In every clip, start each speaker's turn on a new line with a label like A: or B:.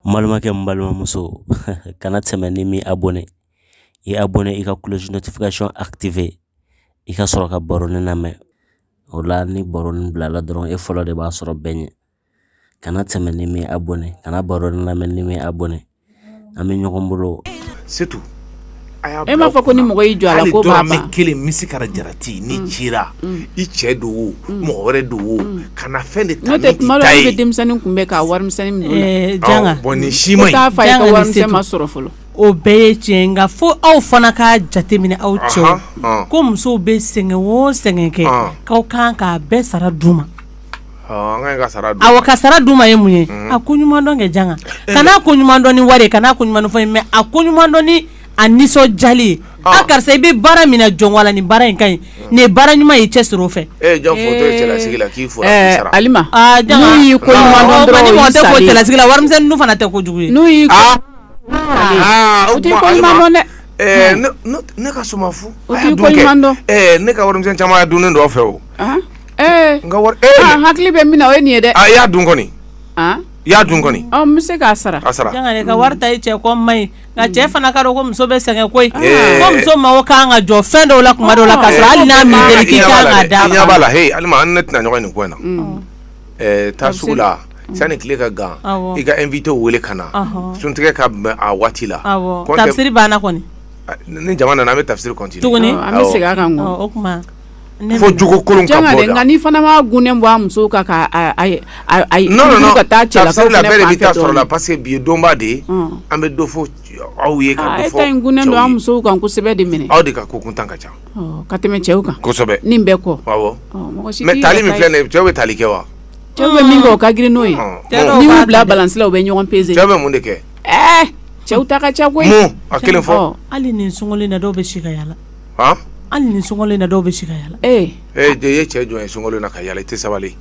A: N balimakɛ n balimamuso kana tɛmɛ n'i m'i abɔne i abɔne i ka kulosi notification activer i ka sɔrɔ ka baronin lamɛn o la ni baronin bilala dɔrɔn e fɔlɔ de b'a sɔrɔ bɛɛ ɲɛ kana tɛmɛ n'i m'i abɔne kana baronin lamɛn n'i m'i abɔne an bɛ ɲɔgɔn bolo c'est tout
B: e m'a
C: fɔ ko ni mɔgɔ y'i jɔ a la ko b'a ban hali dɔrɔmɛ kelen
B: misikara jarati n'i mm. cira mm. i cɛ don o mm. mɔgɔ wɛrɛ don o kana fɛn de ta n'i ta ye n'o tɛ tuma dɔ la i bɛ
C: denmisɛnnin kunbɛn ka warimisɛnnin minɛ o la eh, janga bon nin
D: si man ɲi taa
B: f'a ye ko warimisɛn
C: ma sɔrɔ fɔlɔ o bɛɛ ye
D: tiɲɛ nka fo aw fana k'a jateminɛ aw cɛw ko musow bɛ sɛgɛn o sɛgɛn kɛ k'aw kan k'a bɛɛ sara d'u ma ka sara d'u ma ye mun ye a ko ɲuman dɔn kɛ janga kana ko ɲuman dɔn ni wari ye kana ko ɲuman dɔn fɔ mais a ko ɲuman dɔn ni a nisɔndiyali ye a karisa i bɛ baara min na jɔn ni baara in ka ɲi nin ye baara ɲuman ye cɛ sɔrɔ fɛ
C: e ko cɛlasigi la warimisɛn dun
D: fana tɛ kojugu ye dɛ
C: ne ka ne ka warimisɛn caman
B: dunnen dɔ fɛ o N hakili bɛ min na o
C: ye nin ye dɛ a y'a dun
B: kɔni i y'a dun kɔni n'i bɛ se k'a sara
C: a sara janga ka wari
D: ta i cɛ kɔ man ɲi nka cɛ fana k'a dɔn ko muso bɛ sɛgɛn koyi ko muso mago kan ka jɔ fɛn dɔw la kuma dɔw la k'a sɔrɔ hali n'a m'i deli i kan k'a d'a ma i ɲɛ b'a la Alima
B: an n'e tɛna ɲɔgɔn ye nin ko in na taa sugu la sani tile ka gan i ka invité weele ka na suntigɛ ka bɛn a waati la tafsiri banna
D: kɔni ni jama
B: nana an bɛ tafsiri continuer tuguni an bɛ segin
D: a kan o fo
B: jogokolon ka bɔ la n'i fana ma
C: gunnen bɔ a musow
B: kan ka taa
C: cɛ la
B: parce que bi ye donba de ye an bɛ dɔ fɔ aw ye ka don
C: musow kan kosɛbɛ de minɛ aw de ka kokuntan ka ca
B: ka tɛmɛ
C: cɛw kan kosɛbɛ nin bɛɛ kɔ mais tali min filɛ cɛw
B: bɛ tali kɛ wa cɛw bɛ min kɛ o
C: ka girin n'o ye n'i y'u bila balansi la u bɛ ɲɔgɔn peze cɛw bɛ mun de kɛ
B: cɛw ta
C: ka ca koyi a kelen fɔ
B: hali nin sunkalo in na
D: dɔw bɛ si ka yala Hali nin sunkalo in na dɔw bɛ si ka yala ee ee jɔ ye
B: cɛ jɔn ye sunkalo in na ka yala i tɛ
C: sabali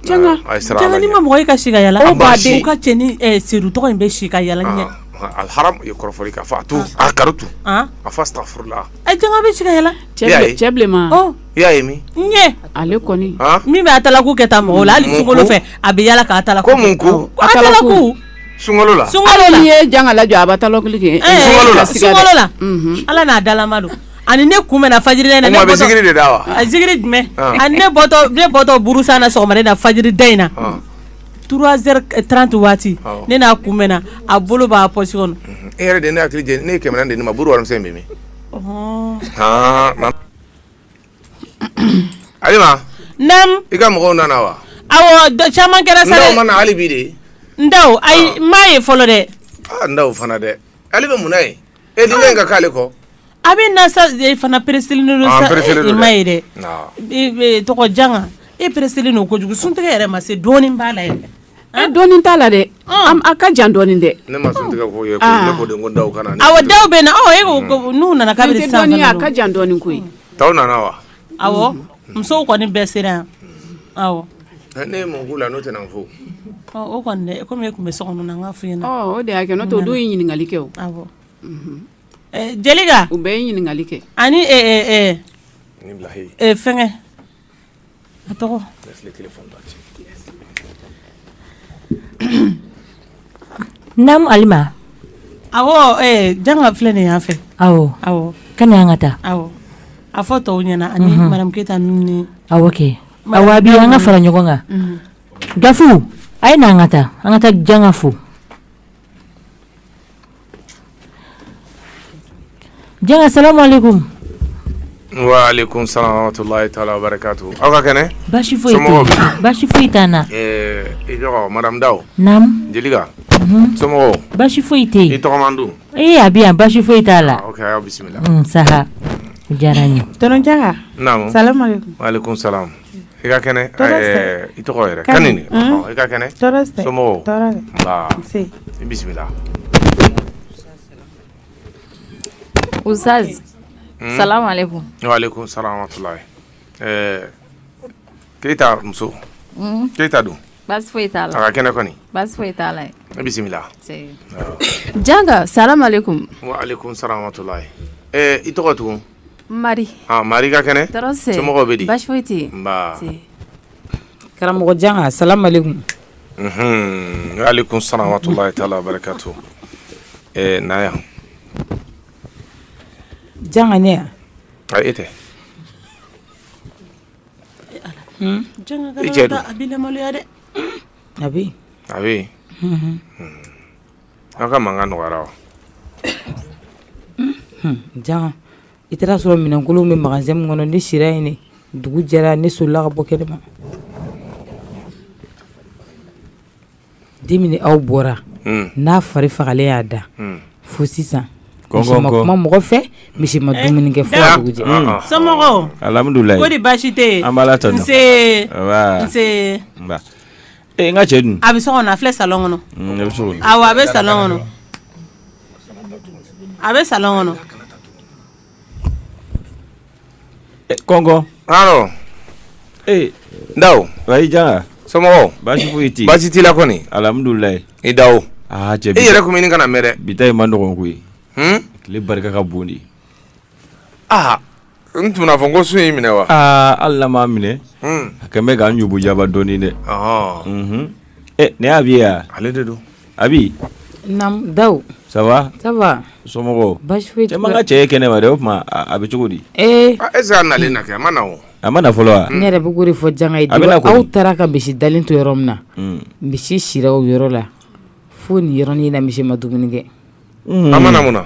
C: janga
D: n'i ma mɔgɔ ye ka si ka yala ka cɛnin Seru tɔgɔ in bɛ si ka yala ɲɛ
B: kɔrɔfɔli ka fɔ a to a kato a fɔ astafurula a janga bɛ si ka
D: yala cɛ bilenman
C: i y'a ye min
B: ɲɛ ale kɔni
C: min bɛ atalaku
D: kɛ taa mɔgɔw la hali sunkalo fɛ a bɛ yala k'atalaku
B: ko
D: sun
B: la sun ye jangala
C: jɔ a taliki
D: ala n'a dalama don ani ne kun bɛ faji da ne bɔtɔsa na sɔgɔma na faji da in na turaz tranti waati ne n'a kun bɛ a bolo b'a pɔsi kɔnɔ e yɛrɛ de ne hakili
B: ne ye kɛmɛ de ma buru wari min Alima naamu i
D: ka
B: mɔgɔw nana wa awɔ
D: caman kɛra sa Dawu ma na hali bi dɛ
B: Dawu
D: ayi n m'a ye fɔlɔ dɛ a Dawu fana dɛ
B: ale bɛ mun na yen e dun ka k'ale kɔ a bɛ
D: na sa e fana peresilen don sa i m'a ye dɛ tɔgɔ janka e peresilen don kojugu sun tigɛ yɛrɛ ma se dɔɔnin b'a la yɛrɛ E dɔɔnin t'a la
C: dɛ a ka jan dɔɔni
B: dɛ awɔ Dawu
D: bɛ na o n'u nana a ka jan dɔɔni koyi i taw nana wa awɔ musow kɔni bɛɛ sera yan awɔ ne
B: ma la n'o tɛna fɔ o
D: kɔni dɛ komi u tun bɛ so kɔnɔ n ka f'i ɲɛna o de y'a kɛ n'o tɛ o
C: dun ye ɲininkali kɛ awɔ
D: Jeliga u bɛɛ ye ɲininkali
C: kɛ ani
D: fɛnkɛ A
E: tɔgɔ naamu Alima
D: awɔ janga filɛ nin yan fɛ awɔ aw
E: ka na an ka taa awɔ
D: a fɔ tɔw ɲɛna ani madamu Keyita ni awɔ
E: kɛ aw bɛɛ an ka fara ɲɔgɔn kan k'a fo a ye na an ka taa an ka taa janga fo Janga salamu
B: aleyikum, wa aleyikum salaam wa rahamatulahi taala wa barakatuhu, aw ka kɛnɛ, baasi foyi tɛ yen, somɔgɔw
E: dun, baasi foyi t'an na, ɛɛ i
B: tɔgɔ madamu Dawu, naamu,
E: Jeliga,
B: unhun, somɔgɔw, baasi foyi
E: tɛ yen, i tɔgɔman dun, ee
B: a bɛ yan baasi
E: foyi t'a la, ok a y'aw bisimila, un
B: saha,
E: o diyara n ye, tonton Janga, naamu,
C: salamu aleyikum,
B: wa aleyikum
C: salaam
B: I ka kɛnɛ i tɔgɔ yɛrɛ ka i ka kɛnɛ i bisimila
F: uzali samatula
B: keyita muso keyita don basi foyi ka
F: kɛnɛ kɔni basi foyi i bisimila janga sara mali kun
B: samatula i tɔgɔ tun
F: marika kɛnɛ
B: bɛ
F: baasi karamɔgɔjan
G: sa
B: mali kun y'ale kun sanmatula t' la barika to na yan
E: janga ne yan ka e tɛ
D: a bɛ
E: a bɛ
B: Aw ka mankan nɔgɔyara wa?
E: Unhun, Janga, i taara a sɔrɔ minɛnkolonw bɛ magasin min kɔnɔ ne sira yen de, dugu jɛra ne solila ka bɔ kɛnɛma, den min aw bɔra, un, n'a fari fagalen y'a da, un, fo sisan misi ma kuma mɔgɔ fɛ, misi ma dumuni kɛ fo ka dugu jɛ, un, somɔgɔw,
D: alihamudulila, kɔri
G: baasi tɛ yen,
D: an b'Ala tanu, nse,
G: nba,
D: nse, nba
G: Ee n ka cɛ dun? A bɛ so kɔnɔ a filɛ
D: salon kɔnɔ. Unhun a bɛ so kɔnɔ. Awɔ
G: a bɛ salon
D: kɔnɔ. A bɛ salon kɔnɔ.
G: E kɔnkɔn. Awɔ.
B: Ee. Dawu. Wayi
G: Janga. Somɔgɔw?
B: Baasi foyi tɛ yen.
G: Baasi t'i la
B: kɔni? Alihamidulilayi. I
G: Dawu.
B: Aa cɛ. I yɛrɛ tun bɛ
G: ɲini ka na mɛn
B: dɛ. Bi ta in man nɔgɔn koyi.
G: Hun? Tile barika ka bon dɛ.
B: aa n tun bɛna fɔ n ko sun y'i minɛ wa aa hali n'a m'a
G: minɛ Hmm. a kɛn bɛ k'an ɲugu jaba dɔɔnin dɛ Ɔhɔn. Mhm. Eh, ne y'Abi ye ale de don
B: Abi
G: Naam
E: Dawu ça va ça va
G: somɔgɔw
E: baasi foyi
G: t'i la. cɛ i ma n ka
E: cɛ ye kɛnɛ ma dɛ o
G: tuma a a bɛ cogo di ee Ah, est ce que a
B: nalen na kɛ a ma na o a ma na fɔlɔ wa
G: ne yɛrɛ bɛ k'o de fɔ
E: Janga ye A bɛ na depuis kɔni. aw taara ka misi dalen to yɔrɔ min na Mm. misi sira o yɔrɔ la fo nin yɔrɔnin na misi ma dumuni kɛ a ma na
B: mun na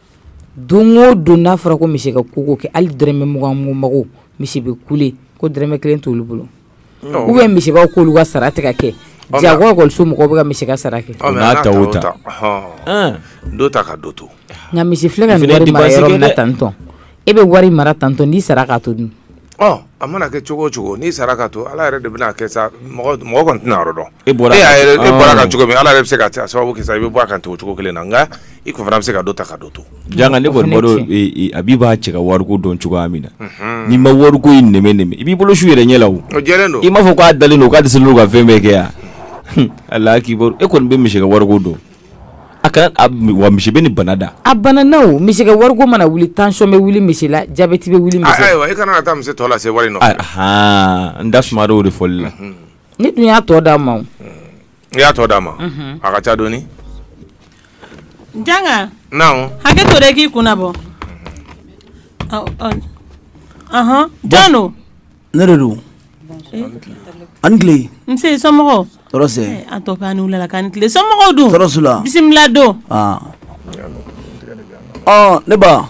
E: don o don n'a fɔra ko misi ka ko o ko kɛ hali dɔrɔmɛ mugan mako misi bɛ kule ko dɔrɔmɛ kelen t'olu bolo ou bien misi b'a k'olu ka sara tɛ ka kɛ jagoso mɔgɔw bɛ ka misi ka sara kɛ n'a ta o
B: ta dɔ ta ka dɔ to nka misi filɛ ka
E: nin wari mara yɔrɔ min na tantɔn e bɛ wari mara tantɔn n'i sara k'a to dun a mana
B: kɛ cogo o cogo n'i sara k'a to ala yɛrɛ de bɛn'a kɛ sa mɔgɔ tɛn'a yɔrɔ dɔn e bɔra a kan cogo min ala yɛrɛ bɛ se ka sababu kɛ i bɛ bɔ a kan o cogo kelen na nka i tun fana bɛ se ka dɔ ta ka dɔ to Janga ne
G: kɔni Abi b'a cɛ ka wariko dɔn cogoya min na n'i ma wariko in nɛmɛnɛmɛ i b'i bolo su i yɛrɛ ɲɛ la o jɛlen don i m'a fɔ
B: k'a dalen don k'a
G: dɛsɛlen don ka fɛn bɛɛ kɛ yan ala akibaru e kɔni bɛ misi ka wariko dɔn a kana wa misi bɛ nin bana da a bana na misi
E: ka wariko mana wuli tansiyɔn bɛ wuli misi la jabɛti bɛ wuli ayiwa i kana taa misi tɔ
B: lase wari n da
G: suma de fɔli la ne dun y'a
E: tɔ d'a ma i y'a tɔ
B: d'a ma a ka ca
D: dɔɔnin Janga hakɛ to
B: dɛ k'i
D: kunna bɔ jɔn don
H: ne de don aw ni tile nse
D: somɔgɔw tɔɔrɔ si an
H: tɔ an wulila
D: ka tile somɔgɔw dun tɔɔrɔ si t'u la bisimila
H: don ne ba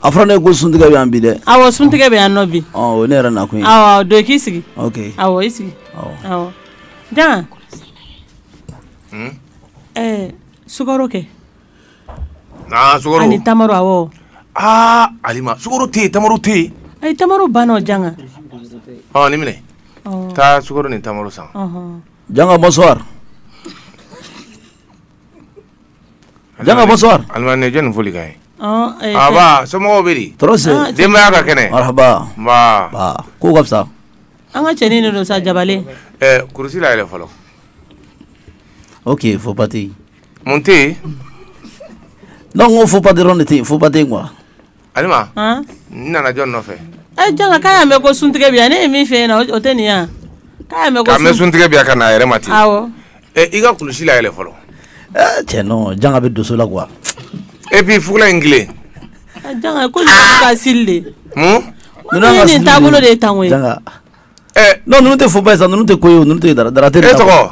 H: a fɔra ne ko suntigɛ bɛ yan bi dɛ awɔ suntigɛ bɛ yan
D: nɔ bi o ne yɛrɛ
H: nakun awɔ don k'i
D: sigi awɔ i sigi awɔ Janga sukaro kɛ
B: Aa sukaro ni
D: tamaro awɔ Alima
B: sukaro tɛ yen tamaro tɛ yen ayi tamaro
D: banna o Janga
B: nin minɛ taa sukaro ni tamaro san
H: Janga bonsoir Janga bonsoir Alima ne jɛn foli
B: ka ye aw somɔgɔw bɛ di tɔɔrɔ tɛ denbaya
H: ka kɛnɛ
B: marahaba ko ka fisa
H: an ka cɛnin de
D: don sa jabalen kurusi layɛlɛ
B: fɔlɔ
H: oke pati Mun
B: tɛ
H: yen donc n ko faux pas dɔrɔn de tɛ yen faux pas tɛ yen quoi
B: Alima n nana jɔni nɔfɛ ee Janga k'a y'a mɛn
D: ko suntigɛ bɛ yan ne ye min f'e ɲɛna o tɛ nin ye wa k'a y'a mɛn ko k'a mɛn suntigɛ bɛ yan ka na a yɛrɛ ma
B: ten awɔ ɛ i ka
D: kulusi
B: layɛlɛ fɔlɔ ee cɛ
H: non Janga bɛ doso la quoi et puis
B: fugula in tilen
D: Janga ko ninnu bɛ ka sili de mun ninnu ye
H: nin taabolo de ye
D: tan koyi Janga
H: ɛɛ non ninnu tɛ faux pas ye sa ninnu tɛ ko ye o ninnu tɛ dara dara tɛ e tɔgɔ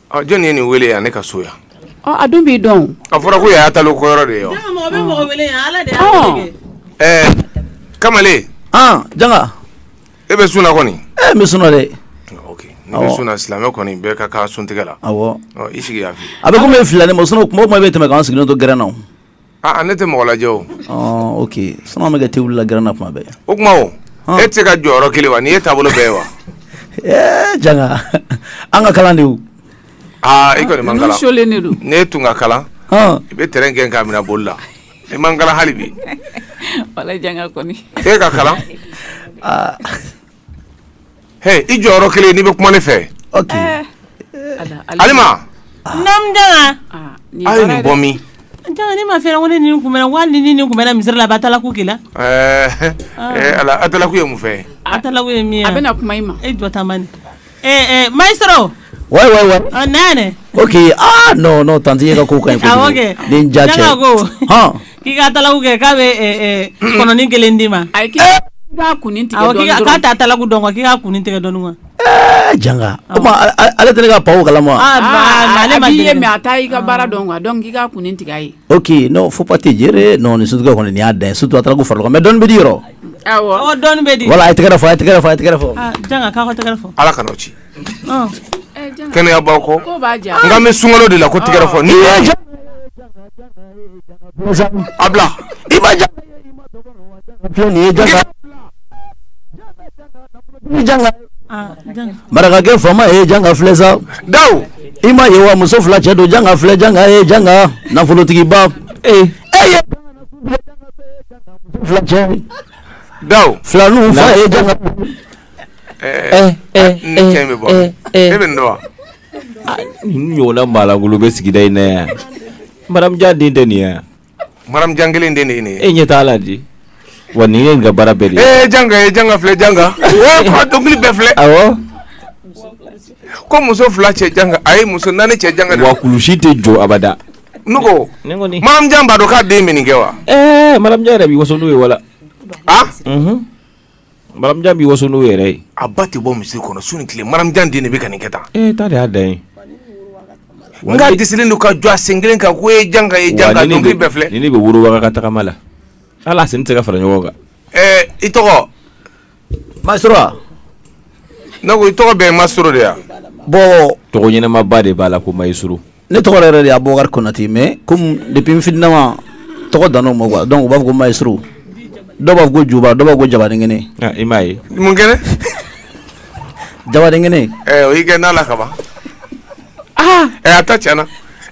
C: Ɔ
B: jɔnni ye nin weele yan ne ka so yan a dun b'i
C: dɔn a fɔra ko yan ye
B: atalaku yɔrɔ
D: de ye kamalen
H: janga
B: e bɛ sun na kɔni n bɛ sun na dɛ n'i bɛ sun na silamɛ kɔni bɛɛ ka kan suntigɛ la awɔ i sigi yan fɛ a bɛ komi e filila ne ma
H: sinon tuma o tuma e bɛ tɛmɛ k'an sigilen to gɛrɛn na Aa ne tɛ mɔgɔ lajɛ
B: o ok sinon an bɛ
H: kɛ te wili la gɛrɛn na kuma bɛɛ o
B: tuma e tɛ se ka jɔ yɔrɔ kelen wa nin ye taabolo bɛɛ ye wa ee
H: janga an ka kalan de aaa
B: i kɔni man kalan n'e tun ka kalan i bɛ tɛrɛn gɛn k'a minɛ boli la i man kalan hali bi
C: wala janga kɔni e ka kalan
B: Hey, i jɔ yɔrɔ kelen n'i bɛ kuma ne fɛ.
H: Ok. Eh.
B: Alima. Naam
D: Janga. Ah, a ye nin bɔ
B: min? Janga ne m'a f'e
D: ɲɛna ko ne ni nin kunbɛnna walayi ne ni nin kunbɛnna misiri la a bɛ atalaku k'i la. Ɛɛ eh,
B: eh, ala atalaku ye mun fɛn ye? Atalaku ye min ye? A
D: bɛna kuma i ma. E jɔ
C: tan bani.
D: Ɛɛ maestro wa
H: wa wa
D: nɛnɛ ok
H: aa non non tanti e ka ko kan nin
D: janga
H: ko k'i
D: ka atalaku kɛ k'a bɛ kɔnɔnin kelen d'i ma ayi k'a kun
C: k'a tɛ atalaku dɔn k'i
D: ka kunnin tigɛ dɔɔni kan
H: janga ale tɛ ne ka panw kalama ale
C: ma ye mais a t'i ka baara dɔn quoi donc k'i ka kun tigɛ a ye ok non faux pas tɛ
H: gérer non ni surtout kɔnɔnin y'a da ye surtout atalaku farala mais dɔɔni bɛ di yɔrɔ dɔɔni
D: bɛ di voilà a tɛgɛ fɔ a tɛgɛ fɔ
H: a tɛgɛ
D: fɔ ala kana
B: ci kɛnɛyabaa kɔ nka n bɛ sunkalo de la ko tɛgɛ fɔ ni a bila i ma
H: janga marakakɛ faama ye janga filɛ sa daw i
B: m'a ye wa
H: muso fila cɛ don janga filɛ janga ye janga nafolotigiba ee e
G: Ɲɔgɔnla maalankolon bɛ sigida in na yan maramujan den tɛ nin yan maramujan
B: kelen den de ye nin ye e ɲɛ t'a la
G: di wa nin ye nin ka baara bɛɛ de ye janga filɛ
B: janga dɔnkili bɛɛ filɛ ko muso fila cɛ a ye muso naani cɛ janga kulusi tɛ jɔ
G: abada N
B: ko Maramujan b'a dɔn k'a den bɛ nin kɛ wa ɛɛ Maramujan yɛrɛ
G: b'i waso n'o ye wala Maramujan b'i waso n'o yɛrɛ ye a ba tɛ bɔ misiri kɔnɔ
B: su ni tile Maramujan den de bɛ ka nin kɛ tan e ta de y'a dan ye n ka di don ka jɔ a sen kelen kan ko e Janga e ja ni bɛɛ filɛ ni ne bɛ worowa ka
G: tagama la hali a sen tɛ se ka fara ɲɔgɔn kan ɛɛ i
B: tɔgɔ ma ne ko i tɔgɔ bɛɛ Maestro de ya bon tɔgɔ
H: ɲɛnamaba
G: de b'a la ko ma i s ne tɔgɔ yɛrɛ
H: de y'Abubakari Konatɛ mais comme depuis n fitinama tɔgɔ dan ma quoi donc u b'a fɔ ko Maestro dɔw b'a fɔ ko Juba dɔw b'a fɔ ko Jabadenkɛnɛ ah, i m'a ye
G: mun kɛnɛ
H: Jabadenkɛnɛ o y'i kɛ n'a
B: la ka ban aa ɛ a ta tiɲɛna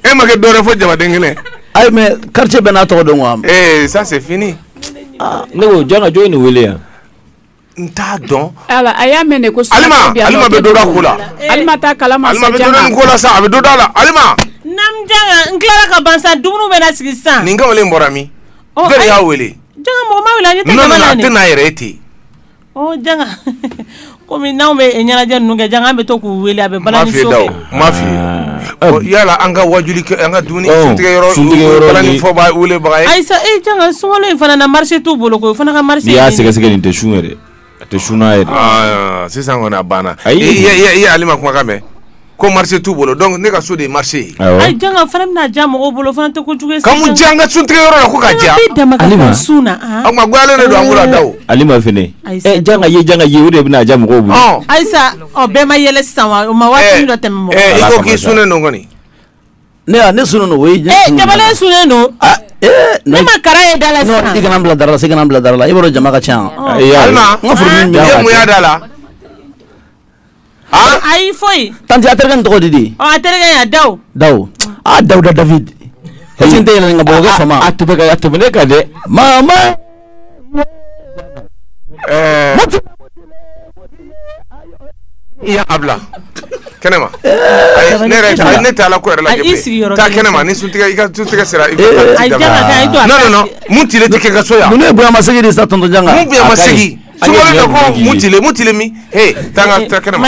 B: e ma kɛ dɔwɛrɛ fɔ Jabadenkɛnɛ ayi
H: mais quartier bɛɛ n'a tɔgɔ dɔn wa ee ça c'est fini
B: ne ko
G: Janga jɔn ye nin weele yan N t'a
B: dɔn a y'a mɛn ko
C: sa
B: la
D: n tila ka ban dumuni bɛ sigi san ni kamalen bɔra min
B: y'a weele
D: n'a yɛrɛ e
B: ten
D: kɔmi n'anw bɛ ɲɛnajɛ kɛ bɛ to k'u weele a bɛ M'a
B: f'i yala an ka wajuli an ka dumuni
D: sunkalo in fana na marché t'u bolo ko o fana ka marché n'i y'a sɛgɛsɛgɛ nin tɛ sun
G: yɛrɛ a tɛ sun yɛrɛ sisan kɔni a banna
B: a ye Alima kumakan mɛn ko marché t'u bolo donc ne ka so de ye marché ye Janga fana
D: bɛna ja mɔgɔw bolo fana tɛ kojugu an ka
B: suntigɛ yɔrɔ la ko ka ja sun
D: na a ga don
B: an da Alima
G: fɛnɛ Janga ye Janga ye o de bɛna ja mɔgɔw bolo ayi Ɔ
D: bɛɛ ma yɛlɛ sisan wa o ma waati dɔ tɛmɛ mɔgɔ kan, ee i ko k'i sunnen don
B: kɔni, ne a
H: ne sunnen don o ye ee Jabate sunnen don,
D: aa ee, ne ma kala ye da la sisan, non i kana n bila dara la sa i kana n
H: bila dara la i b'a dɔn jama ka ca yan, Ɔ, ayi, ayi. Alima, n ka
B: furudimi bɛ i ye
H: yan mun y'a da
B: la
D: han ayi foyi, tanti a terikɛ nin tɔgɔ
H: di di ɔ a terikɛ ya Dawu,
D: dawu aa Dawuda
H: David est-ce que n tɛ yɛlɛ nin ka bɔ o kɛ fama a tɛmɛ ka a tɛmɛ ne
G: kan dɛ mama
B: Ɛɛ i y'a bila kɛnɛ ma ne Ala ko la taa kɛnɛ ma ni suntigɛ i ka suntigɛ sera i mun tile tɛ ka so yan ne bonyamasegin de
H: sa tonton Janga mun bonyamasegin
B: mun tile mun tile min taa kɛnɛ ma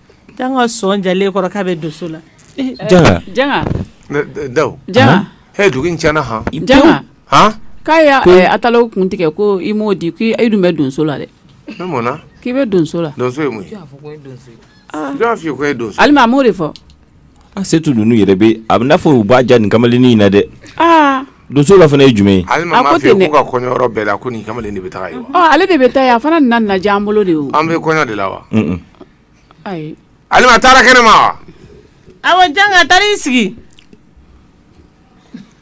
D: Janga sɔn jalen kɔrɔ k'a bɛ donso
C: la da dugu in tiɲɛna han Janga k'a
B: y'a
C: taa kun tigɛ ko i m'o di k'e dun bɛ donso la
B: dɛ k'i bɛ donso la donso donso Alima a m'o de fɔ
C: Asetu
G: ninnu yɛrɛ bɛ a bɛ n'a fɔ u b'a ja nin kamalennin in na dɛ donso la fana ye jumɛn ye ale ka
B: kɔɲɔyɔrɔ bɛɛ la ko nin kamalen de bɛ taa ye ale de bɛ taa yen a
C: fana nana ja an bolo de o an bɛ kɔɲɔ de la wa ayi Alima taara
B: kɛnɛ ma wa awɔ
D: Janga taara i sigi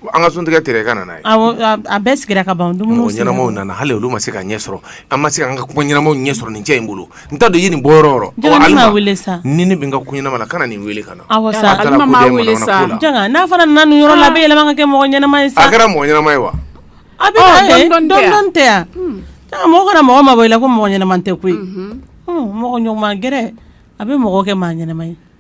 B: An ka sun tigɛ tigɛ ka nana a bɛɛ
D: sigira ka ban dumuni ɲɛnamaw nana hali
B: olu ma se ka ɲɛ sɔrɔ an ma se an ka kuma ɲɛnamaw ɲɛ sɔrɔ nin cɛ in bolo n t'a dɔn i ye nin bɔ sa
D: ni ne bɛ n ka ko ɲɛnama
B: la kana nin weele ka na
C: n'a fana nana
D: nin yɔrɔ la a bɛ yɛlɛma kɛ mɔgɔ ɲɛnama ye sa kɛra mɔgɔ ɲɛnama ye
B: wa a
D: bɛ tɛ yan mɔgɔ kana mɔgɔ mabɔ i la ko mɔgɔ ɲɛnama tɛ koyi mɔgɔ ɲɔgɔn gɛrɛ a bɛ mɔgɔ kɛ maa ɲɛnama ye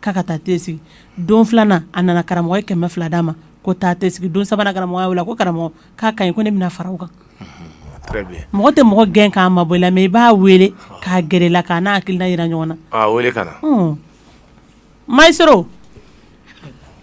D: k'a ka taa te sigi don filanan a nana karamɔgɔ ye kɛmɛ fila d'a ma ko taa te sigi don sabanan karamɔgɔ y'a wele ko karamɔgɔ k'a ka ɲi ko ne bɛna fara o kan mɔgɔ tɛ mɔgɔ gɛn k'a mabɔ i la mais i b'a weele k'a gɛrɛ i la k'a n'a hakilina yira ɲɔgɔn na
B: masɔrɔ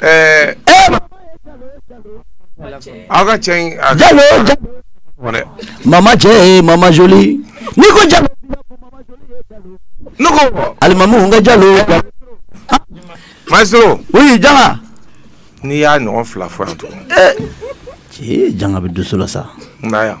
B: ɛɛ aw ka cɛ in a
H: jalo dɛ mama cɛ ye mama joli n'i ko jalo
B: ne ko alimami n ka jalo maestro oui
H: janga n'i y'a
B: ɲɔgɔn fila fɔ yan tugun ee
H: janga bɛ dusu la sa na yan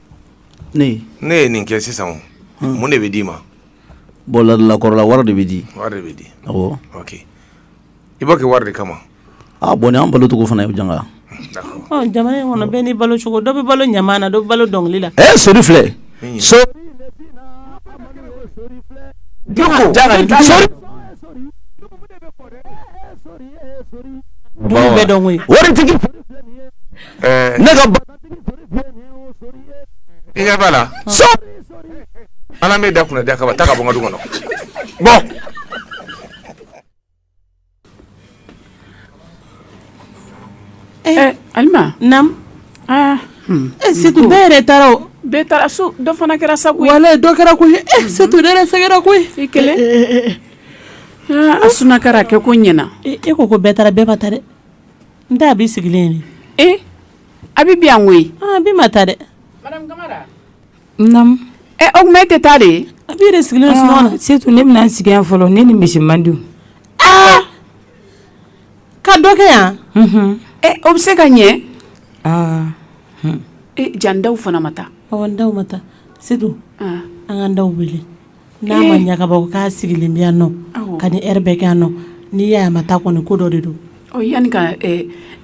H: ne ye nin
B: kɛ sisan mun de bɛ d'i ma
H: bon ladilakɔrɔla wari de bɛ di wari de bɛ di
B: awɔ ok i b'o kɛ wari de kama a bon nin y'an
H: balo cogo fana ye janga jamana
B: in kɔnɔ bɛɛ n'i
D: balo cogo dɔ bɛ balo ɲaman na dɔ bɛ balo dɔnkili la ɛ sori
H: filɛ
D: so waritigi
H: Ne
B: ka la ala m'e da kunna da kaba taa ka bɔ n ka du kɔnɔ
D: bɔ alima naamu setu bɛɛ yɛrɛ taara bɛɛ taara su
C: dɔ fana kɛra sa dɔ kɛra
D: koyi setu ne yɛrɛ sɛgɛnna koyi i kelen
C: a sunnakari kɛko ɲɛna e ko ko bɛɛ taara
D: bɛɛ ma taa dɛ n tɛ abi sigilen ye ee abi
C: bɛ yan koyi abi ma taa dɛ naamu ɛ o tuma e tɛ taa de abi yɛrɛ sigilen sunɔgɔ
D: la setu ne bɛna n sigi yan
E: fɔlɔ ne ni misi man di
D: aa ka dɔ kɛ yan ɛ o
C: bɛ se ka ɲɛ aa ee jaa ndaw fana ma taa ɔ ndaw ma taa
D: setu an ka ndaw wele N'a ma ɲa ka bɔ k'a sigilen bɛ yan nɔ ka nin heure bɛɛ kɛ yan nɔ n'i y'a ma taa kɔni ko dɔ de don yanni
C: ka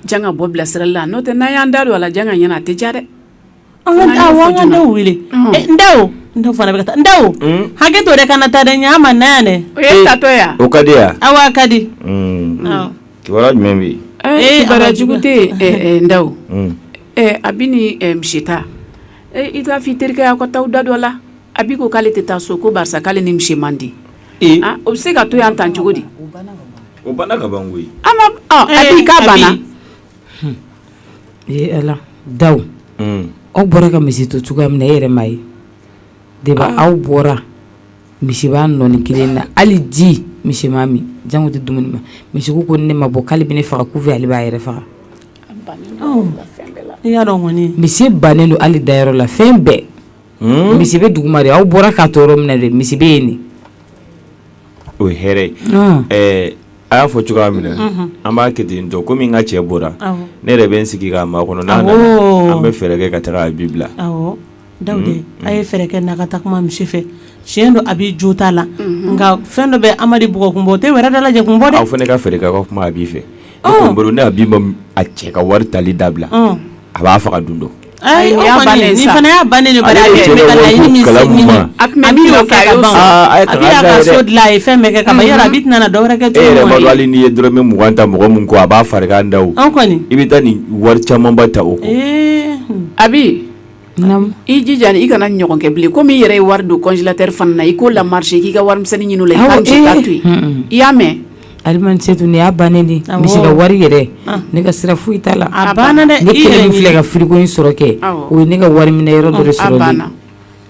C: janga bɔ bilasirali la n'o tɛ n'an y'an da don a la janga ɲɛna a tɛ diya dɛ
D: an ka ndaw wele ndaw fana bɛ ka taa ndaw hakɛ to de kana taa dɛ ɲa ma na dɛ o ye tatɔ yan
C: o ka di yan awa
G: a ka di kibaruya jumɛn bɛ ee barajugu tɛ
C: ndaw a bɛ ni misita I k'a fɔ i terikɛ ye aw ka taa da dɔ la Abi ko k'ale tɛ taa so ko barisa k'ale ni misi man di o bɛ se ka to yan tan cogo di
E: Abi k'a banna ala Dawu aw bɔra ka misi to cogoya min na e yɛrɛ m'a ye de ba aw bɔra misi b'a nɔɔni kelen na hali ji misi ma min janko tɛ dumuni ma misi ko ne ma bɔ k'ale bɛ ne faga ku fɛ ale b'a yɛrɛ faga misi bannen don hali dayɔrɔ la fɛn bɛɛ hmm? misi bɛ duguma de aw bɔra k'a to yɔrɔ min na de misi bɛ yen de
G: o ye hɛrɛ ye ah. eh, a y'a fɔ cogoya min na mhm. an b'a kɛ ten tɔ komi n ka cɛ bɔra ne yɛrɛ bɛ n sigi k'a makɔnɔ n'a nana an bɛ fɛɛrɛ kɛ ka taga Abi bila Da
D: a ye fɛɛrɛ kɛ na ka taa kuma misi fɛ tiɲɛ don a bɛ jo ta la nka fɛn dɔ bɛ amadu bug kun o tɛ wɛrɛ da lajɛ kun aw fana ne ka fɛ ka kuma
G: a b'i fɛ bolo ne b'i ma a cɛ ka wari tali dabila a b'a faga dun dɔn
D: ayi a ba ne ka ye
G: dɔrɔn mɔgɔ ta mɔgɔ min ko a b'a fari da i bɛ taa nin
D: wari
G: camanba ta o a
C: i jija i kana ɲɔgɔn kɛ bilen komi i yɛrɛ ye wari don congélateur fana na i k'o la marché k'i ka warimisɛnnin ɲini o la i ka misi ta to yen i y'a mɛn Alima Setu ni y'a
E: bannen de misi ka wari yɛrɛ ne ka sira foyi t'a la a banna
D: ne kelen min filɛ ka frigo
E: in sɔrɔ kɛ o ye ne ka wari minɛ yɔrɔ dɔ sɔrɔ ne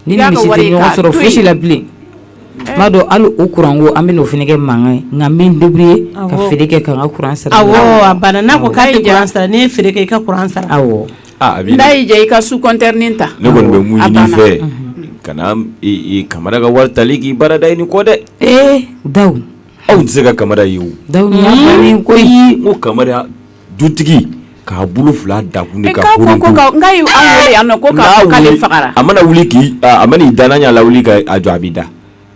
E: ni misi tɛ ɲɔgɔn sɔrɔ foyi si la bilen n b'a dɔn hali o kuran ko an bɛna o fana kɛ mankan ye nka n bɛ n débrouiller ka feere kɛ ka n ka kuran sara a banna n'a ko
D: k'a ye kuran sara n'i ye feere kɛ i ka kuran sara n'a
C: y'i diya i ka sous-compteur nin ta ne kɔni bɛ mun ɲini i
G: fɛ kana kamara ka wari tali k'i baara da i ni kɔ dɛ ee
E: Dawu aw tɛ se ka
G: kamara ye o
E: Dawu ko ko
G: kamara dutigi k'a bolo fila da a kun de
C: ka an wele yan nɔ ko k'ale fagara a mana wuli k'i
G: a mana i da n'a ɲa la wuli ka a jɔ a b'i da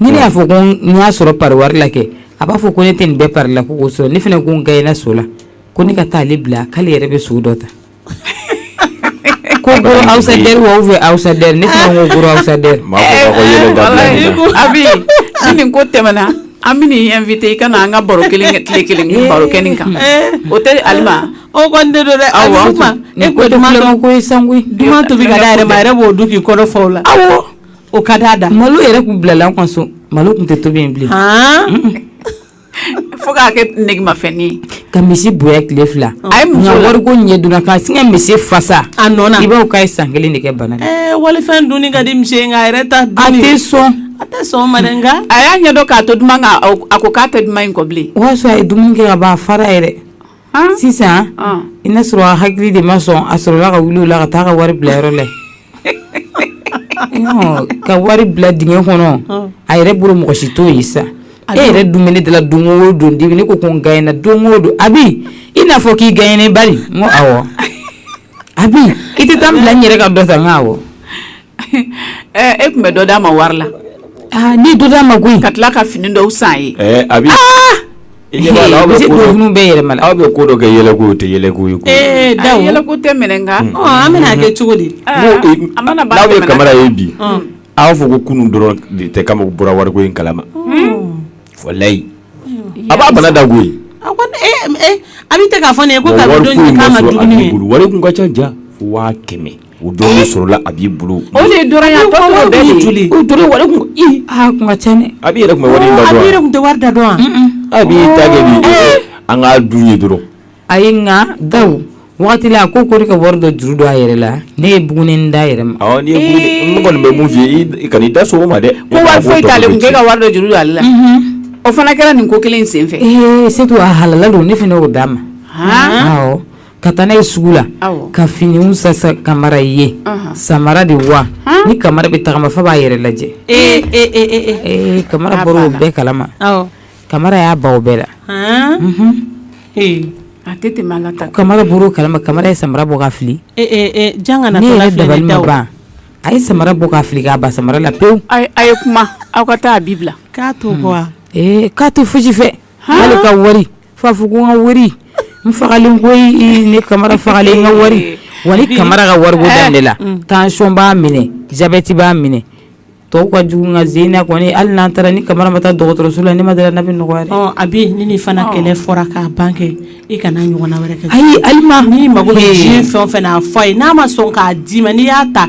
E: Ni ne y'a fɔ ko n y'a sɔrɔ pa wari la kɛ a b'a fɔ ko ne tɛ nin bɛɛ pa la ko kosɔ ne fana ko n ka i so la ko ne ka taa ale bila k'ale yɛrɛ bɛ so dɔ ta ko awsa fɛ awsa ne awsa
G: a
C: nin ko tɛmɛna an bɛ yan fi i ka an ka baro kelen kɛ tile kelen ni baro kɛ nin kan o tɛ ali o ko ne dɛ
D: aw ma e
E: ko ko san to bɛ ka yɛrɛ
D: yɛrɛ b'o du k'i kɔrɔ faw la o
E: ka d'a
D: da malo yɛrɛ kun bilala an
E: ka so malo kun tɛ tobi yen
C: bilen fo k'a kɛ negemafɛn ye ka misi bonya
E: tile fila a ye muso wari ko ɲɛ donna k'a sin ka misi fasa a nɔ i b'a fɔ
D: k'a ye san kelen de
E: kɛ bana la walifɛn dunni ka
D: di misi ye nka a yɛrɛ ta a tɛ
E: sɔn a tɛ sɔn ma
D: dɛ nka a y'a ɲɛdɔn k'a to
C: duman kan a ko k'a tɛ duman in kɔ bilen o y'a sɔrɔ a ye dumuni kɛ
E: ka ban a fara yɛrɛ sisan i n'a sɔrɔ a hakili de ma sɔn a sɔrɔla ka wili o la ka taa ka wari bila yɔrɔ la ka wari bila dingɛ kɔnɔ a yɛrɛ bolo mɔgɔ si t'o ye sa e yɛrɛ dun ne dala don o don dibi ne ko ko n gay na don o don Abi i n'a fɔ k'i gay ne bari n ko awɔ Abi i tɛ taa n bila n yɛrɛ ka dɔ ta n' wa
C: E tun bɛ dɔ d'a ma wari la ni
E: dɔ d'a ma koyi ka tila ka fini
C: dɔw san ye
G: a bɛ bɛ yɛlɛma
E: aw bɛ ko dɔ kɛ
G: yɛlɛko o tɛ yɛlɛko ye Dawu yɛlɛ
C: tɛ minɛ nka an bɛna kɛ cogo
D: di
G: aw bɛ kamara ye bi aw fɔ ko kunun dɔrɔn de tɛ kamara bɔra wari ko in kalama walayi a b'a bana da koyi
D: a bɛ taa k'a fɔ ne ko wari kun ka ca ja
G: waa kɛmɛ O dɔrɔn sɔrɔla Abi bolo
C: Abi
G: yɛrɛ tun tɛ wari da dɔn
D: Abi ta
G: an k'a dun ye dɔrɔn ayi nka
E: Dawu waati la ko ko ka wari dɔ juru don a yɛrɛ la ne ye bugunnin d'a yɛrɛ ma n
G: kɔni bɛ mun f'i ye i kan'i da so ma dɛ ko wari foyi t'ale kun
C: k'e ka wari dɔ juru don ale la o fana kɛra nin ko kelen in sen fɛ Setu a
E: halala don ne fana y'o d'a ma ka taa n'a ye sugu la ka finiw san san kamara ye samara de wa ni kamara bɛ tagama f'a b'a yɛrɛ lajɛ kamara bɔra o bɛɛ kalama kamara y'a ban o bɛɛ la
C: a tɛ kamara bɔra o kalama
E: kamara ye samara bɔ k'a fili ne yɛrɛ dabali ma ban a ye samara bɔ k'a fili k'a ban samara la pewu a ye kuma
C: aw ka taa Abi bila k'a to
D: k'a to fosi
E: fɛ ka wari f'a fɔ ko n ka wari n fagalen ko ne kamara fagalen n ka wari wa ni kamara ka wari ko dan de la tansiyɔn b'a minɛ jabɛti b'a minɛ tɔw ka jugu nka zena kɔni hali n'an taara ni kamara ma taa dɔgɔtɔrɔso la ne ma da a la n'a bɛ nɔgɔya Abi ni nin
D: fana kɛlɛ fɔra k'a ban kɛ i kana ɲɔgɔn wɛrɛ kɛ ayi hali n'i
E: mago
D: bɛ fɛn fɛn na a fɔ a ye n'a ma sɔn k'a d'i ma n'i y'a ta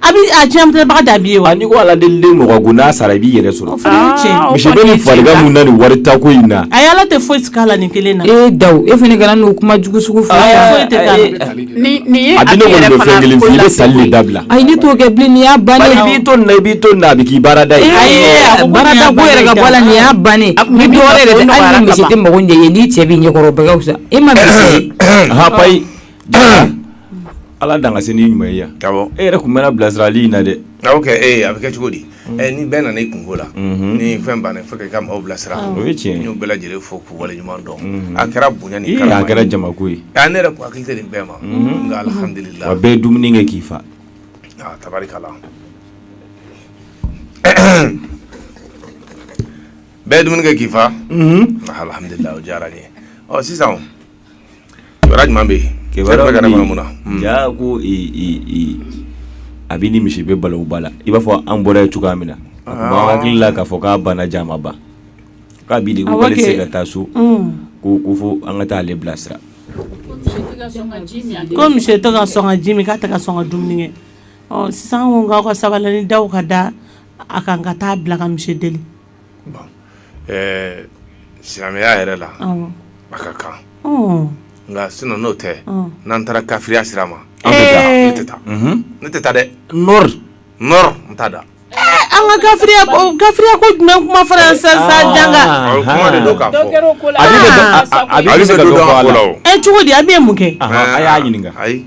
G: A bɛ a
D: ciyɛntabaga da b'i ye wa n'i ko ala deli
G: mɔgɔ ko n'a sara i b'i yɛrɛ sɔrɔ
D: cɛ
G: fa na nin wari ta ko in na a ala tɛ foyi k'a la
D: nin kelen na e Dawu e fana kana
E: n'o kuma jugu sugu
C: fɔ a bɛ
G: tali dabila ayi ne t'o kɛ bilen
E: nin y'a bannen i b'i to i b'i
G: to a bɛ k'i baara da
E: yɛrɛ nin y'a ban a mago ɲɛ ye n'i cɛ b'i ɲɛkɔrɔ ka fisa e ma
G: Ala dan ka se ni ɲuman ye yan e yɛrɛ tun bɛ na bilasirali in na dɛ a bɛ
B: kɛ cogo di ni bɛɛ nana i kunko la ni fɛn banna fo ka maaw bilasira o ye tiɲɛ n y'u bɛɛ
G: lajɛlen fo
B: k'u wale ɲuman dɔn a kɛra bonya ni karama a kɛra jama ko ye
G: a ne yɛrɛ ko hakili tɛ nin
B: bɛɛ ma nka alihamdulila a bɛɛ
G: dumuni kɛ k'i fa tabarikala
B: bɛɛ dumuni kɛ k'i faa alihamdulila o diyara n ye ɔ sisan kibaruya jumɛn bɛ yen kibaruya bɛ kɛnɛ kɔnɔ mun
G: na jaa ko Abi ni monsieur bɛ balawu ba la i b'a fɔ an bɔra yen cogoya min na a tun b'an hakili la k'a fɔ k'a banna jaa a ma ban k'Abi de ko k'ale tɛ se ka taa so ko ko fo an ka taa ale
D: bilasira ko monsieur tɛ ka sɔn ka ji min k'a tɛ ka sɔn ka dumuni kɛ ɔ sisan an ko k'aw ka sabali ni daw ka da a kan ka taa bila ka monsieur deli
B: ɛɛ silamɛya yɛrɛ la a ka kan nka sinon n'o tɛ n'an taara kafiriya sira ma an tɛ taa ne tɛ taa ne tɛ taa dɛ non non n t'a da an
D: ka kafiriya kafiriya ko jumɛn kuma fɔra yan sisan sisan janga o ye kuma de don k'a fɔ
B: ale
G: bɛ dɔ fɔ a la o cogo di Abi ye mun kɛ
D: a y'a ɲininka ayi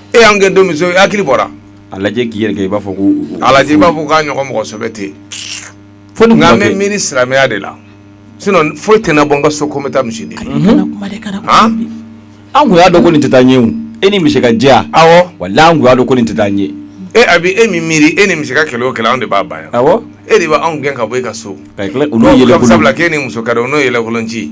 E: e y'an gɛn
B: don min so hakili bɔra a lajɛ k'i
G: yɛrɛ kɛ i b'a fɔ ko a lajɛ i b'a fɔ
B: k'a ɲɔgɔn mɔgɔ sɛbɛ tɛ yen fo nin nka n bɛ miiri silamɛya de la sinon foyi tɛna bɔ n ka so ko n bɛ taa
G: monsieur deli an kun y'a dɔn ko nin tɛ taa ɲɛ o e ni monsieur ka jɛ awɔ walahi an kun
B: y'a dɔn ko nin
G: tɛ taa ɲɛ e Abi e
B: min miiri e ni monsieur ka kɛlɛ o kɛlɛ anw de b'a ban yan awɔ e de b'anw
G: gɛn ka
B: bɔ e ka so ka tila olu yɛlɛkolon sabula
G: k'e ni monsieur ka di o
B: n'o yɛlɛkolon ci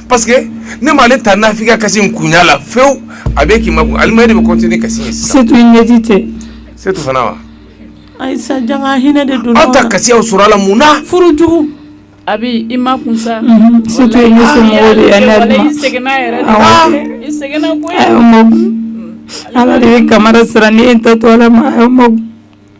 B: parce que ne m'ale ta nafigi kasi in kun y'a la fewu Abi k'i makun Alima e de bɛ continuer kasi ye sisan Setu i ɲɛji cɛ
E: Setu fana wa
B: ayi
D: sa janga hinɛ de donna aw ta kasi y'aw sɔrɔ a
B: la
D: mun
B: na furu
D: jugu Abi i
C: makun sa Setu ye
E: ne somɔgɔw de ye ne walayi i sɛgɛnna yɛrɛ de
C: awɔ i sɛgɛnna koyi a y'aw makun
E: Ala de bɛ kamara sara ni e ta to Ala ma a y'aw makun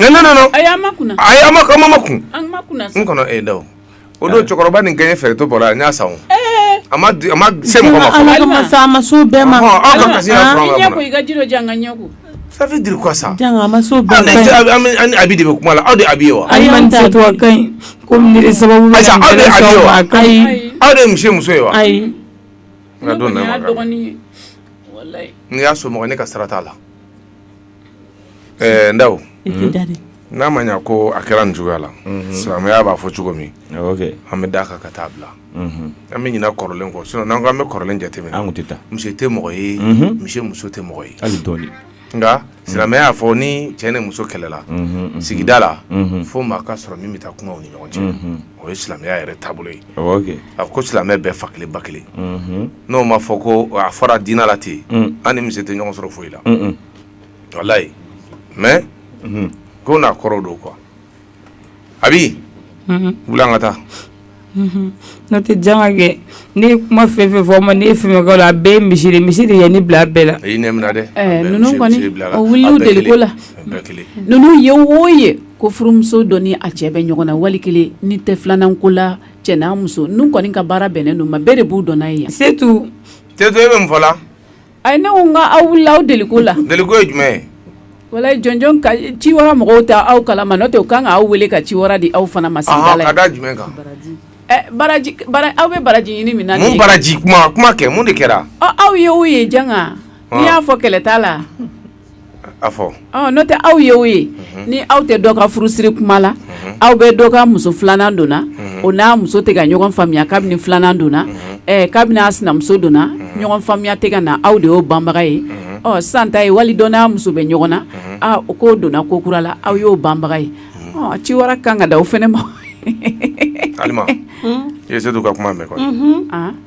D: Ne ne
B: nana
C: a y'aw makun a y'aw ma makun
B: n
C: kɔnɔ
B: ayi Daw o don
C: cɛkɔrɔba
B: nin gɛn fɛrɛtɔ bɔra a n y'a san a ma se ma sa ma so
D: bɛɛ ma
C: ça veut dire
B: quoi ça a ma
D: so Abi
B: de bɛ kuma la aw de Abi ye wa
E: ayi ko sababu
B: aw de
D: monsieur muso ye
B: wa ayi
D: n ka don
B: n'i
C: y'a so mɔgɔ
B: ne ka sara t'a la Ɛɛ Ndaw n'a ma ɲɛ ko a kɛra nin cogoya la silamɛya b'a fɔ cogo min an bɛ d'a kan ka taa bila an bɛ ɲina kɔrɔlen kɔ sinon n'an ko an bɛ kɔrɔlen jateminɛ an tun tɛ taa monsieur tɛ
G: mɔgɔ ye
B: monsieur muso tɛ mɔgɔ ye hali dɔɔni nka silamɛya y'a fɔ ni cɛ ni muso kɛlɛla sigida la fo maa ka sɔrɔ min bɛ taa kuma u ni ɲɔgɔn cɛ o ye silamɛya yɛrɛ taabolo ye a ko silamɛ bɛɛ fa kelen ba kelen. n'o ma fɔ ko a fɔra diinɛ la ten an ni monsieur tɛ ɲɔgɔn sɔrɔ foyi la walayi mais ko n'a kɔrɔ don quoi Abi wuli an ka taa
E: n'o tɛ Janga kɛ ne ye kuma fɛn fɛn fɔ ma ne ye fɛn fɛn la a bɛɛ monsieur de monsieur de ye ne bila a bɛɛ la i ne minɛ dɛ
B: eh, ninnu
C: kɔni o wulila deli ko la ninnu ye wo ye ko furumuso dɔ ni a cɛ bɛ ɲɔgɔn na wali kelen ni tɛ filanan ko la cɛ n'a muso ninnu kɔni ka baara bɛnnen don maa bɛɛ de b'u dɔn n'a ye yan setu
E: te e bɛ
B: mun fɔ la ayi ne ko n
C: ka aw wulila aw deliko la deliko ye jumɛn ye
B: walayi jɔnjɔn
C: ka ciwara mɔgɔw t'aw kalama n'o tɛ u kan ka aw wele ka ciwara di aw fana ma sigida la ka da
B: jumɛn
C: kan aw bɛ baraji ɲini min na mun baraji kuma
B: kɛ mun de kɛra aw ye o ye
C: janga n'i y'a fɔ kɛlɛ t'a la
B: n'o tɛ aw ye
C: o ye ni aw tɛ dɔ ka furusiri kuma la aw bɛ dɔ ka muso filanan don na o n'a muso tɛ ka ɲɔgɔn faamuya kabini filanan donna kabini a sinamuso donna ɲɔgɔn faamuya tɛ ka na aw de y'o banbaga ye sisan ta ye wali dɔ n'a muso bɛ ɲɔgɔn na o k'o donna ko kura la aw y'o banbaga ye ciwara kan ka d'aw fana ma
B: i ye setu ka kuma mɛn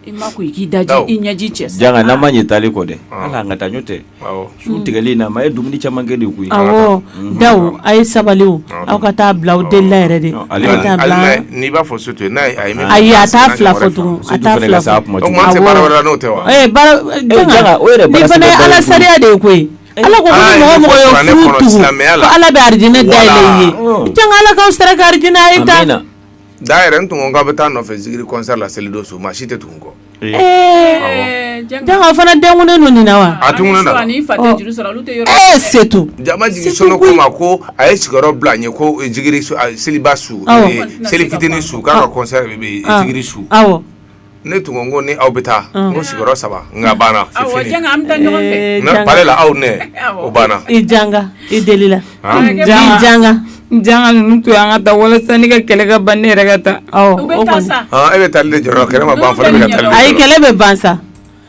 D: I ma ko i k'i
C: da i ɲɛji cɛ janga n'a ma ɲɛ taali
G: kɔ dɛ ala an ka taa n'o tɛ sun tigɛli na ma ye dumuni caman kɛ de koyi awɔ
D: daw a ye sabali aw ka taa bila aw delila yɛrɛ de n'i
B: b'a fɔ setu ye n'a ye a t'a
D: fila fɔ tugun nin fana ye ala sariya de ye koyi ala ko mɔgɔ o mɔgɔ ye furu tugu ala bɛ arijinɛ da yɛlɛ i ye janga ala k'aw sara ka arijinɛ Da yɛrɛ n
B: tun k'a bɛ taa nɔfɛ zikiri concert la selidon su maa si tɛ tugu kɔ janga
D: o fana dennen don nin na wa a tun setu
B: jama jigi ko ma ko a ye sigiyɔrɔ bila n ye ko zikiri seliba su seli fitinin su k'a ka concert bɛ zikiri su ne tun ko ni aw bɛ taa n ko sigiyɔrɔ saba nka banna
D: la
B: aw ne o banna
D: i
B: janga
D: i
B: deli la
E: janga janga ninnu to an ka taa walasa ne ka kɛlɛ ka ban ne yɛrɛ ka
C: taa e bɛ taali de jɔrɔ
B: kɛlɛ ma ban fɔlɔ bɛ ka taali ayi kɛlɛ bɛ ban sa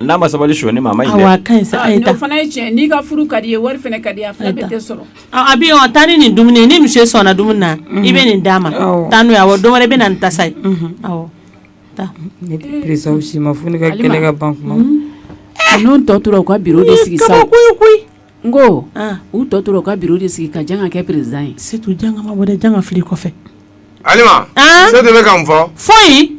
G: N'a ma sabali sonyali
D: ma o fana ye tiɲɛ n'i ka
C: furu ka di ye wari ka di abi taa ni
D: nin dumuni ni monsieur sɔnna dumuni na i bɛ nin d'a ma taa n'o ye awɔ don wɛrɛ i bɛ na ni tasa ye
E: si ma fo ne ka kɛlɛ ka ban kuma n'o
C: tɔ tora u ka bureau de sigi sa koyi
D: n
C: ko u tɔ tora u ka bureau de sigi ka janga kɛ président ye setu janga ma bɔ dɛ
D: janga fili kɔfɛ
B: setu bɛ ka mun fɔ foyi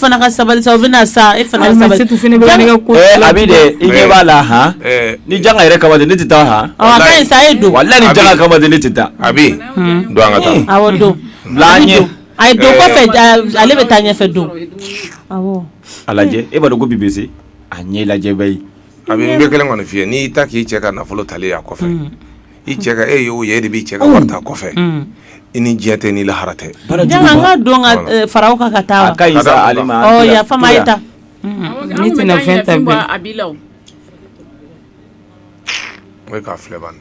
E: fana ka
D: sabali sa bɛna
E: sa i ɲɛ
G: b'a la ni janga yɛrɛ kama de ne tɛ taa sa e don
D: walayi ni janga kama de ne
G: tɛ taa abi
B: don an ka taa
G: don a ye don
D: kɔfɛ ale bɛ taa ɲɛfɛ don a
G: lajɛ e b'a dɔn ko bi bɛ se a ɲɛ lajɛ bɛɛ ye abi n bɛ kelen kɔni
B: f'i ye n'i taa k'i cɛ ka nafolo tali a kɔfɛ i cɛ ka e y'o ye e de b'i cɛ ka wari ta kɔfɛ i ni diɲɛ tɛ ni lahara tɛ barajuru Janga n ka don
D: ka Voilà. eh, fara o kan ka taa wa? a ka ɲi Ka sa taa Alima
G: Ɔ, yafa n ma, a ye ta.
D: Ne tɛna
E: fɛn ta bilen. a b'i la o
B: o ye k'a filɛ bani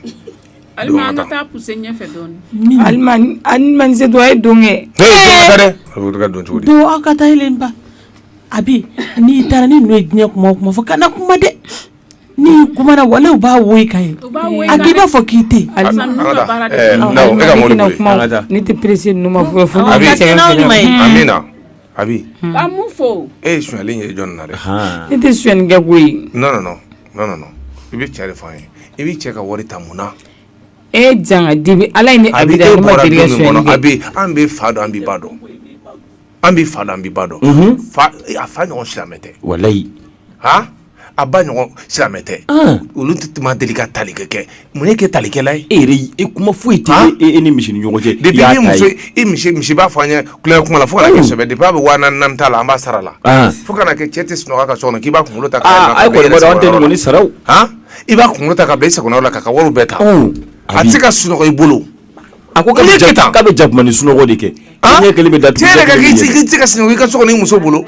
B: alima an
C: ka taa puse ɲɛfɛ dɔɔni Alima ni Alima
E: ni Setu a ye don kɛ. a bɛ
B: ka don cogo di don aw ka taa yelen ba
D: Abi n'i taara ni ninnu ye diɲɛ kuma o kuma fɔ kana kuma dɛ n'i kumana walayi u b'a woyi ka ye a i b'a fɔ k'i
E: tɛ ne tɛ perese a
B: bɛ fɔ
C: e ye sonyali ye jɔn
B: na dɛ ne tɛ sonyali kɛ koyi i bɛ cɛ de fɔ an ye i b'i cɛ ka wari ta mun na e
E: janga dibi ala an bɛ fa
B: dɔn an bɛ ba dɔn an bɛ fa an bɛ ba dɔn a fa ɲɔgɔn silamɛ tɛ walayi a ba ɲɔgɔn silamɛ tɛ olu tɛ deli ka tali kɛ kɛ mun y'e kɛ talikɛla ye e yɛrɛ e kuma foyi e
G: tɛ e, e ni misi ni ɲɔgɔn cɛ depuis
B: misi b'a fɔ an ye kula kuma la fo kana kɛ sɛbɛ depuis a bɛ wa naani t'a la an b'a sara la fo kana kɛ cɛ tɛ sunɔgɔ ka so kɔnɔ k'i b'a kunkolo ta
G: tɛ ni sara i b'a kunkolo
B: ta ka i sago la k'a ka wari bɛɛ ta a tɛ se ka sunɔgɔ i bolo A
G: ko k'a bɛ jakumanin sunɔgɔ de kɛ ɲɛ kelen bɛ datugu cɛ yɛrɛ k'i
B: tɛ se ka sunɔgɔ i ka so kɔnɔ i muso bolo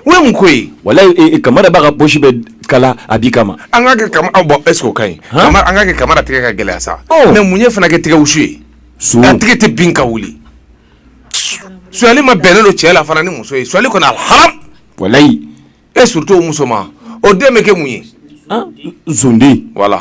B: o ye mun ko ye walayi Kamara b'a ka
G: poche bɛɛ kala Abi kama an ka kɛ
B: Kamara bon est-ce que o ka ɲi an ka kɛ Kamara tigɛ ka gɛlɛya sa mais mun ye fana kɛ tigɛsu ye su tigɛ tɛ bin ka wuli sonyali ma bɛnnen don cɛ la fana ni muso ye sonyali kɔni haramu walayi
G: et
B: surtout muso ma o den bɛ kɛ mun ye zonden
G: voilà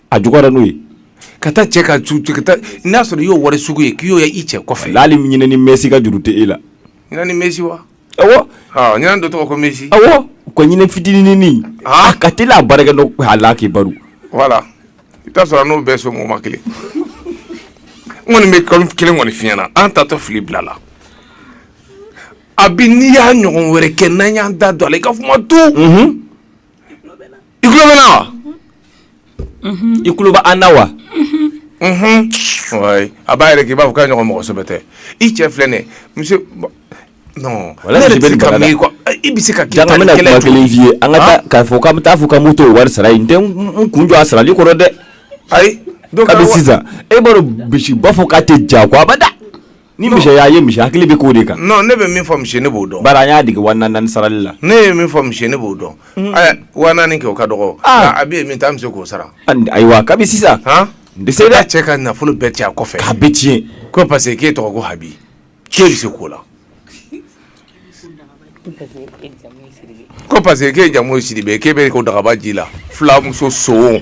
B: a juguyara n'o
G: ye ka taa cɛ
B: ka n'a sɔrɔ i y'o wari sugu ye k'i y'o ye i cɛ kɔfɛ hali ɲinɛnin mɛsi
G: ka juru tɛ e la ɲinɛnin mɛsi wa
B: awɔ
G: ɲinɛ dɔ tɔgɔ ko
B: mɛsi awɔ ko ɲinɛ
G: fitininin a ka teli a baarakɛ dɔ a la k'i baro
B: voilà i bɛ t'a sɔrɔ a n'o bɛɛ somɔgɔma kelen n kɔni bɛ ko kelen kɔni f'i ɲɛ na an taatɔ filɛ bila la Abi n'i y'a ɲɔgɔn wɛrɛ kɛ n'an y'an da don a la i ka kuma to i tulo bɛ n na
G: wa i tulo bɛ an na
B: wa a b'a yɛrɛ k'i b'a fɔ k'a ɲɔgɔn mɔgɔ sɛbɛ tɛ i cɛ filɛ nin ye monsieur non ne yɛrɛ tɛ ka
G: miiri quoi i bɛ se ka
B: Janga n bɛna kuma kelen
G: f'i ye an ka taa k'a fɔ k'an bɛ taa fɔ ka moto wari sara i ye n tɛ n kun jɔ a sarali kɔrɔ dɛ ayi
B: kabini sisan
G: e b'a dɔn misi b'a fɔ k'a tɛ ja ko abada Ni misi y'a ye misi hakili bɛ k'o de kan non ne bɛ min fɔ misi
B: ne b'o dɔn bari an y'a dege wa naani
G: naani sarali la ne bɛ min fɔ misi
B: ne b'o dɔn ɛ wa naani kɛ o ka dɔgɔ ah. a bɛ yen min ta misi k'o sara ayiwa kabi sisan
G: han n bɛ se dɛ
B: cɛ ka nafolo bɛɛ cɛ a kɔfɛ k'a bɛɛ tiɲɛ
G: ko parce que k'e
B: tɔgɔ ko Habi k'e bɛ se k'o la ko parce que k'e jamu ye Sidibe k'e bɛ ko dagaba ji la filamuso sowon